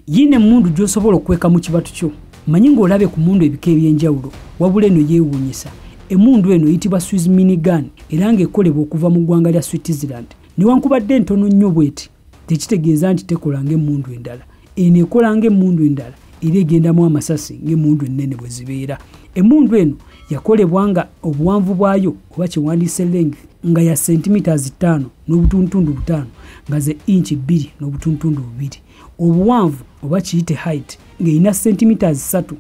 yiina emmundu gy'osobola okukweka mu kibatu kyo manyi ng'olabye ku mundu ebika eby'enjawulo wabula eno yeewuunyisa emundu eno eyitibwa swiss minigan era ng'ekolebwa okuva mu ggwanga lya switzerland newankubadde entono nnyo bweti tekitegeeza nti tekola ng'emundu endala eno ekola ng'emundu endala era egendamu amasasi ng'emundu ennene bwe zibeera emundu eno yakolebwa nga obuwanvu bwayo oba kyewandiise length nga ya sentimetres ttaano n'obutuntundu butaano nga ze inci bbiri n'obutuntundu bubiri obuwanvu oba kiyite height ng'erina sentimiters ssatu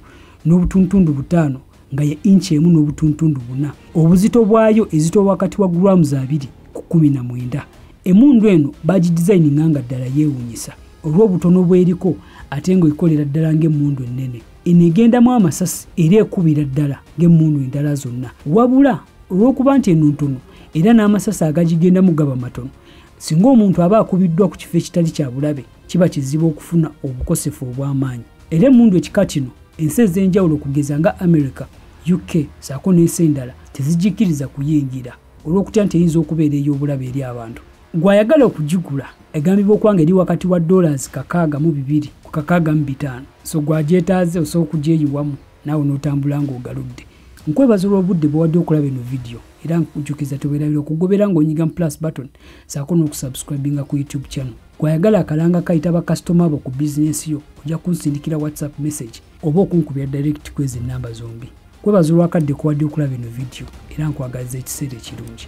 n'obutuntundu butaano nga ye inci emu n'obutuntundu buna obuzito bwayo ezito wakati wa grams abiri ku kumi na mwenda emundu eno bagidizayininga nga ddala yeewunyisa olw'obutono bweriko ate ng'ekolera ddala ng'emundu ennene eno egendamu amasasi era ekubira ddala ng'emundu endala zonna wabula olw'okuba nti eno ntono era n'amasasi agagigendamu gaba matono singa omuntu aba akubiddwa ku kifo ekitali kya bulabe kiba kizibu okufuna obukosefu obw'amaanyi era emundu ekika kino ensi ez'enjawulo okugeza nga america uk saako n'ensi endala tezijikiriza kuyingira olw'okutya nti eyinza okubeera ey'obulabe eri abantu gw'ayagala okugigula egambibwa okuba nga eri wakati wa dollars kakaaga mu bibiri ku kakaaga mu bitaano so gwagyetaaze osobola okugyeyiwamu naawe n'otambula ng'ogaludde nkwebaza olw'obudde bwewadde okulaba eno vidiyo era nkujukiza tobeerabira okugobera ng'onyiga mu plus button saako n'okusubscribinga ku youtube channel gwayagala akalanga kayita bakasitoma bo ku bizinensi yo ojja kunsindikira whatsapp message oba okunkubira direct kwezi ennamba zombi kwebaza olwakadde kuwadde okulaba eno vidiyo era nkwagaliza ekiseera ekirungi